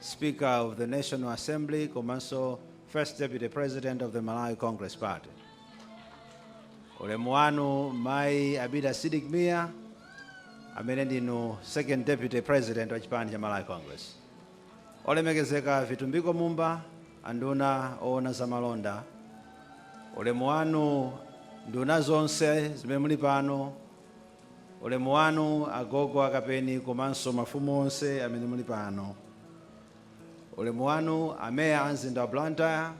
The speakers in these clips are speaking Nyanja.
Speaker of the National Assembly komanso First Deputy President of the Malawi Congress Party. Ulemu wanu Mai Abida Sidik Mia amene ndinu Second Deputy President wa chipani cha Malawi Congress. Olemekezeka Vitumbiko Mumba anduna oona za malonda. Ulemu wanu nduna zonse zimene muli pano Ulemu wanu agogo a Kapeni komanso mafumu onse amene muli pano. Ulemu wanu a Mayor a mzinda wa Blantyre,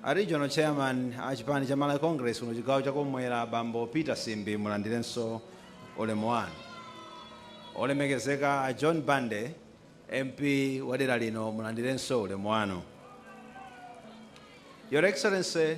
a Regional Chairman a chipani cha Malawi Congress kuno chigawo cha kum'mwera abambo Peter Simbi mulandirenso ulemu wanu. Olemekezeka a John Bande MP wa dera lino mulandirenso ulemu wanu. Your Excellency,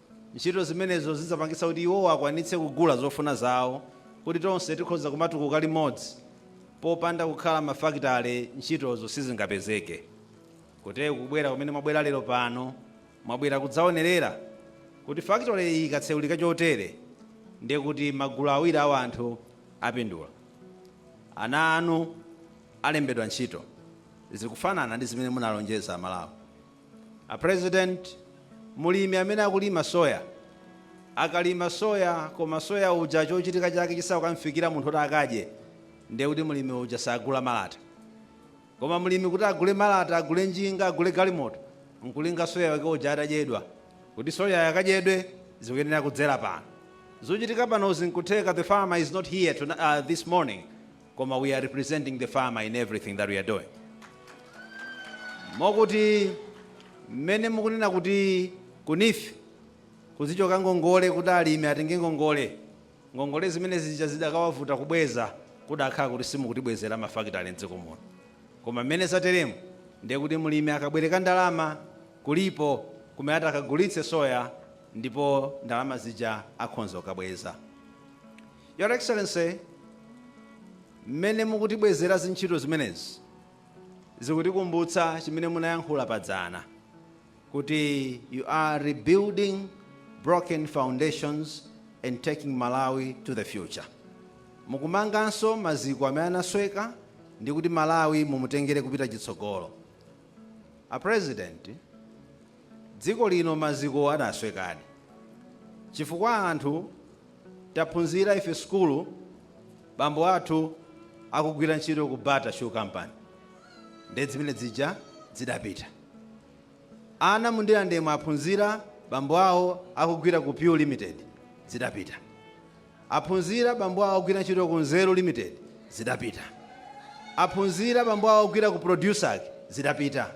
Ntchito zimenezo zidzapangitsa kuti iwowo akwanitse kugula zofuna zawo, kuti tonse tikhoza kumatukuka limodzi. Popanda kukhala mafakitale ntchitozo sizingapezeke. Kuteku kubwera kumene mwabwera lero pano, mwabwera kudzaonerera kuti fakitole iyi ikatseulika chotere, ndiye kuti magulu awiri a wanthu apindula. Ana anu alembedwa ntchito. Zikufanana ndi zimene munalonjeza Amalawi. A president mulimi amene akulima soya akalima soya koma soya uja chochitika chake chisanakamfikire munthu kuti akadye ndiye kuti mulimi uja sagula malata koma mulimi kuti agule malata agule njinga agule galimoto nkulinga soya wake uja atadyedwa kuti soyayo akadyedwe zikuyenera kudzera pano zochitika panozi nkutheka the farmer is not here to, uh, this morning koma we are representing the farmer in everything that we are doing. Mokuti mmene mukunena kuti ku NEEF kuzichoka ngongole kuti alimi atenge ngongole ngongole zimene zija zidakawavuta kubweza kudakhala kuti simukutibwezera mafakitale mdziko muno koma mmene zateremu ndiye kuti mlimi akabwereka ndalama kulipo kumene atakagulitse soya ndipo ndalama zija akhonza kukabweza Your Excellency, mmene mukutibwezera zintchito zimenezi zikutikumbutsa chimene munayankhula pa dzana kuti you are rebuilding broken foundations and taking Malawi to the future. Mukumanganso maziko amene anasweka ndi kuti Malawi mumutengere kupita chitsogolo. A President, dziko lino maziko adaswekadi chifukwa anthu Taphunzira ife sukulu bambo athu akugwira ntchito ku Bata shoe company nde dzimene dzija dzidapita ana muNdirandemu aphunzira bambo awo akugwira ku PEW limited dzidapita aphunzira bambo awo akugwira ntchito ku nzeru limited dzidapita aphunzira bambo awo akugwira ku Produsack dzidapita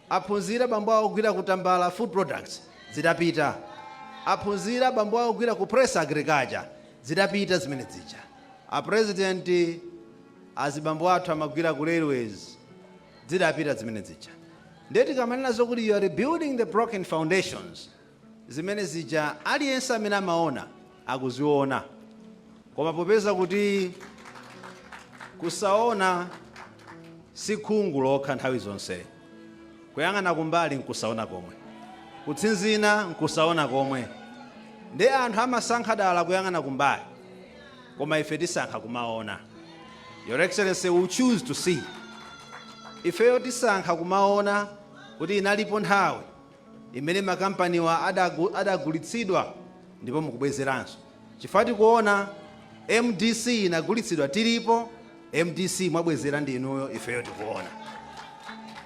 Aphunzira bambo awo ogwira ku Tambala Food Products dzidapita. Aphunzira bambo awo ogwira ku Press Agriculture dzidapita dzimene dzija. A President azibambo athu amagwira ku Railways dzidapita dzimene dzija. Nde tikamanena zokuti you are rebuilding the broken foundations, zimene zija aliyense amene amaona akuziona koma popeza kuti kusaona si khungu lokha nthawi zonse kuyang'ana kumbali nkusaona komwe kutsinzina nkusaona komwe nde anthu amasankha dala kuyang'ana kumbali koma ife tisankha kumaona your excellency we choose to see ifeyo tisankha kumaona kuti inalipo nthawi imene makampaniwa adagulitsidwa ndipo mukubwezeranso chifukwa tikuona mdc inagulitsidwa tilipo mdc mwabwezera ndi inuyo ifeyo tikuona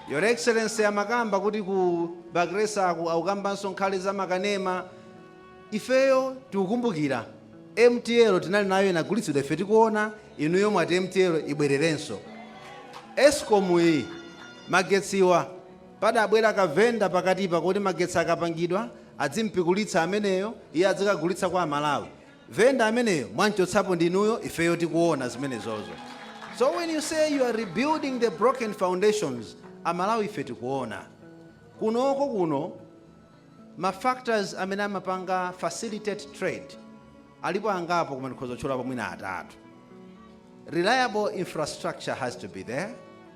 your excellency amakamba kuti ku Bakhresaku akukambanso nkhani za makanema ifeyo tikukumbukira mtl tinali nayo inagulitsidwa ife tikuona inuyo mwati mtl ibwererenso escom iyi magetsiwa Padabwera ka vendor pakatipa kuti magetsi akapangidwa adzimpikulitsa ameneyo iye adzikagulitsa kwa amalawi. Vendor ameneyo mwamchotsapo ndinuyo ifeyo tikuona zimenezozo. So when you say you are rebuilding the broken foundations amalawi ife tikuona. Kunoko kuno ma factors amene amapanga facilitate trade alipo angapo koma ndikhoza kutchulapo mwina atatu. Reliable infrastructure has to be there,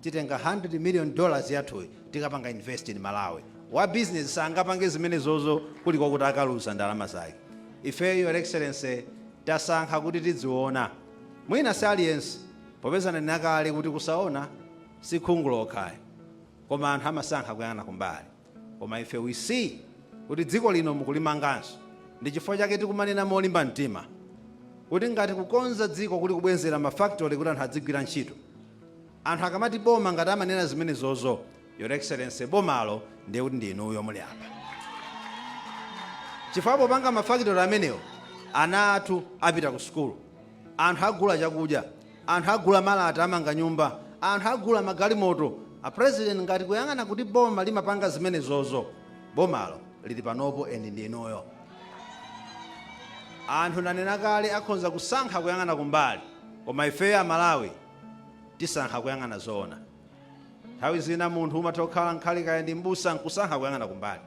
titenga 100 million dollars yathuyi tikapanga invest in malawi. Wa business sangapange zimenezozo kulikokuti akaluza ndalama zake. Ifeyo your excellency tasankha kuti tidziona. Mwina si aliyense popeza ndanena kale kuti kusaona si khungu lokha ayi koma anthu amasankha kuyang'ana kumbali. Koma ife we see kuti dziko lino mukulimanganso ndi chifukwa chake tikumanena molimba mtima kuti ngati kukonza dziko kuli kubwezera ma factory kuti anthu adzigwira ntchito, Anthu akamati boma ngati amanena zimenezozo your excellency bomalo ndiye kuti ndi inuyo muli apa chifukwa popanga mafakitori amenewo ana athu apita ku sukulu anthu agula chakudya anthu agula malata amanga nyumba anthu agula magalimoto a president ngati kuyang'ana kuti boma limapanga zimenezozo bomalo lili panopo endi ndi inuyo anthu ndanena kale akhonza kusankha kuyang'ana kumbali koma ifeyo amalawi tisankha kuyang'ana zoona nthawi zina munthu umatha kukhala nkhale kaya ndi mbusa nkusankha kuyang'ana kumbali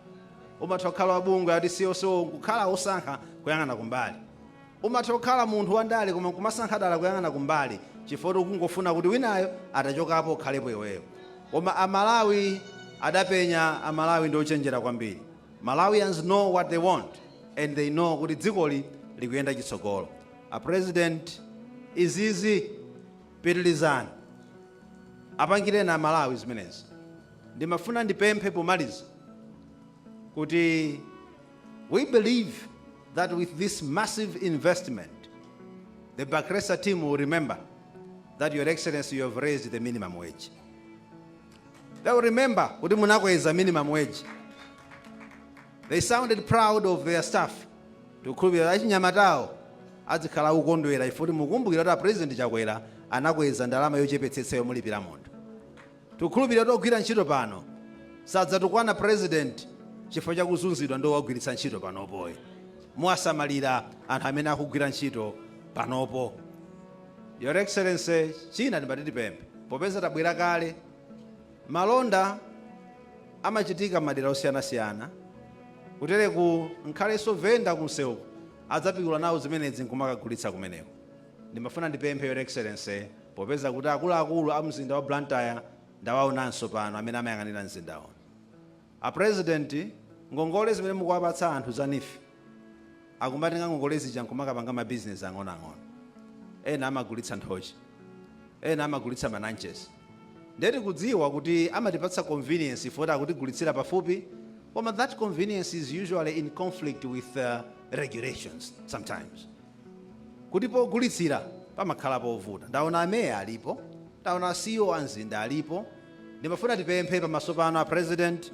umatha kukhala wabungwe ati CSO nkukhala wosankha kuyang'ana kumbali umatha kukhala munthu wandale koma nkumasankha dala kuyang'ana kumbali chifukwa ukungofuna kuti winayo atachokapo ukhalepo iweyo koma amalawi adapenya amalawi ndi ochenjera kwambiri malawians know what they want and they know kuti dzikoli likuyenda chitsogolo A president izizi pitilizani apangileni a Malawi zimenezi. Ndimafuna ndipemphe pomaliza kuti we believe that with this massive investment the Bakhresa team will remember that your excellency you have raised the minimum wage. They will remember kuti munakweza minimum wage. They sounded proud of their staff. Tikukhulupirira achinyamatawo adzikhala akukondwera chifukwa kuti mukumbukira kuti a President Chakwera anakweza ndalama yochepetsetsa yomulipira munthu. Tikukhulupirira kuti ogwira ntchito pano sadzatukwana President chifukwa cha kuzunzidwa ndi owagwiritsa ntchito panopoyi. Muwasamalira anthu amene akugwira ntchito panopo. Your Excellency, china ndimati tipemphe popeza tabwera kale Malonda amachitika mmadera osiyanasiyana kutereku nkhalenso vendor kunseuku adzapikula nawo zimenezi nkumakagulitsa kumeneko. Ndimafuna ndipemphe your excellency popeza kuti akuluakulu a mzinda wa Blantyre ndawaonanso pano amene amayang'anira mzinda uno. A president ngongole zimene mukuwapatsa anthu za neef akumatenga ngongole zija nkumakapanga ma business ang'onoang'ono ena amagulitsa nthochi ena amagulitsa ma nanches nde tikudziwa kuti amatipatsa convenience ife kuti akutigulitsira pafupi koma that convenience is usually in conflict with regulations sometimes. kuti pogulitsira pamakhala povuta. Ndaona a mayor alipo, ndaona a CEO a mzinda alipo, ndimafuna tipemphe pamaso panu a president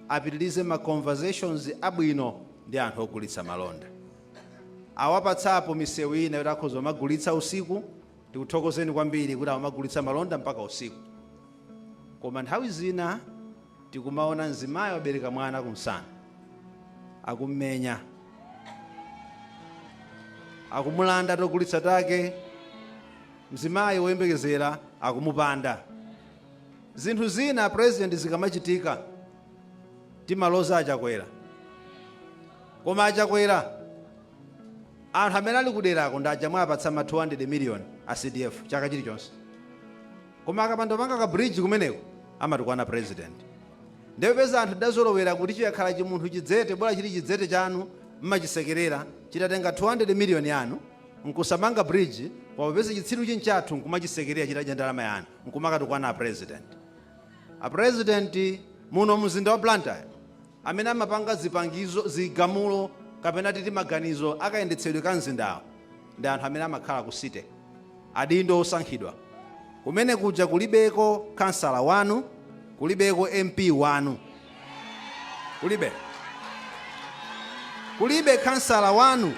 apitilize ma conversations abwino ndi anthu ogulitsa malonda. Awapatsapo misewu ina yoti akhoza kumagulitsa usiku, tikuthokozeni kwambiri kuti amagulitsa malonda mpaka usiku koma nthawi zina Tikumaona mzimayi wabereka mwana kumsana, akum'menya, akumulanda togulitsa take, mzimayi woyembekezera akumupanda. Zinthu zina President zikamachitika timaloza a Chakwera, koma a Chakwera anthu amene ali kuderako ndi aja mwawapatsa ma 200 million a CDF chaka chilichonse. Koma akapanda kupanga ka bridge kumeneko amatukwana president. Nde popeza anthu tidazolowera kuti chikakhala chimunthu chidzete bola chili chidzete chanu mmachisekerera chitatenga 200 million yanu nkusamanga bridge koma popeza chitsirucho nchathu nkumachisekerera chitadya ndalama yanu nkumakatukwana a president. A president muno mzinda wa Blantyre amene amapanga zipangizo, zigamulo kapena titi maganizo a kayendetsedwe ka mzindawo ndi anthu amene amakhala ku city, adindo osankhidwa kumene kuja kulibeko khansala wanu, kulibeko MP wanu, kulibe kulibe khansala wanu,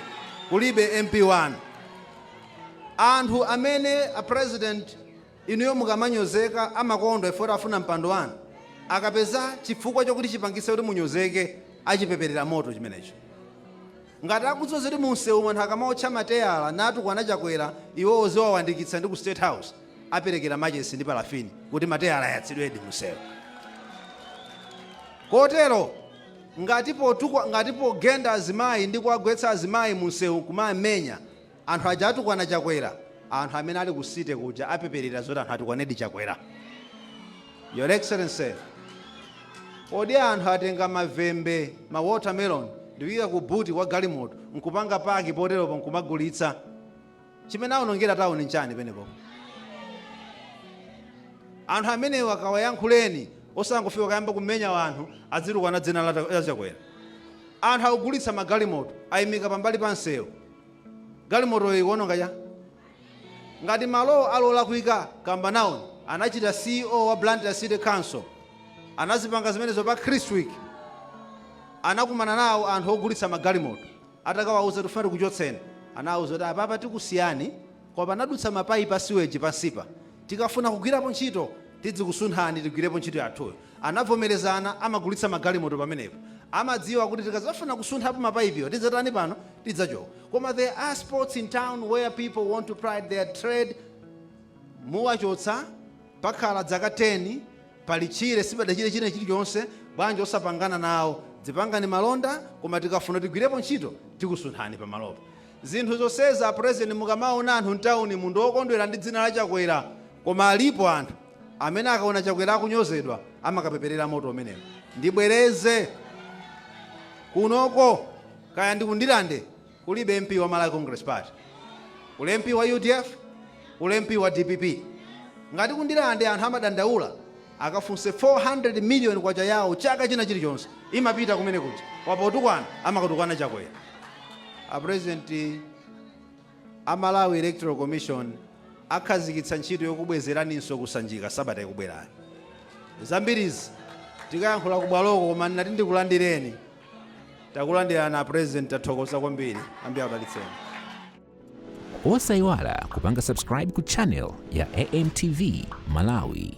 kulibe MP wanu, anthu amene a president. Inuyo mukamanyozeka amakondwa chifukwa choti afuna mpando wanu? Akapeza chifukwa chokuti chipangitse kuti munyozeke achipeperera moto chimenecho. Ngati akudziwa zoti mumseumu anthu akamawotcha mateyala natukwana Chakwera iwowo ziwawandikitsa ndi ku State House aperekera machesi ndi palafini kuti mateyala ayatsidwedi mumsewu. Kotero ngati pogenda azimayi ndi kuwagwetsa azimayi mumsewu nkumawamenya, Anthu aja atukwana chakwera anthu amene ali ku city kuja apeperera zoti anthu atukwanedi chakwera your excellency kodi anthu atenga mavembe ma watermelon ndikuyika ku buti kwa galimoto nkupanga paki poteropo nkumagulitsa chimene aonongera tauni nchani penepo anthu amenewo akawayankhuleni osangofika kayamba kumenya wanthu adzitukwana dzina la chakwera anthu akugulitsa magalimoto ayimika pambali pa msewu Galimotoyo ikuwononga cha. Ngati malowo ali olakwika, kamba nawoni. Anachita C.E.O wa Blantyre City Council. Anazipanga zimenezo pa Christwick. Anakumana nawo anthu ogulitsa magalimoto. Atakawauza tikufuna tikuchotseni. Anawauza kuti apapa tikusiyani koma panadutsa mapaipi a siweji pansipa. Tikafuna kugwirapo ntchito tidzakusunthani tigwirepo ntchito yathuyo. Anavomerezana amagulitsa magalimoto pamenepo amadziwa kuti tikazafuna kusunthapo mapaipiwa tidzatani pano tidzachoka koma there are spots in town where people want to ply their trade muwachotsa pakhala dzaka 10 pali tchire sipadachitike china chilichonse bwanji osapangana nawo dzipangani malonda koma tikafuna tigwirepo ntchito tikusunthani pamalopo zinthu zonsezi a president mukamaona anthu ntaunimu ndiokondwera ndi dzina la chakwera koma alipo anthu Amene akaona chakwera akunyozedwa amakapeperera moto umenewo. Ndibwereze kunoko kaya ndi ku Ndirande kulibe MP wa Malawi Congress Party. Kuli MP wa UDF, kuli MP wa DPP. Ngati ku Ndirande anthu amadandaula akafunse 400 million kwacha yawo chaka china chilichonse imapita kumene kuti. Apo potukwana amakatukwana chakwera. A president A Malawi Electoral Commission akhadzikitsa ntchito yokubwezeraninso ku Sanjika sabata ikubwerayi. Zambirizi tikayankhula kubwaloko koma ndinati ndikulandireni. Takulandirani a President tathokoza kwambiri. Ambuye akudalitseni. Osaiwala kupanga subscribe ku channel ya AMTV Malawi.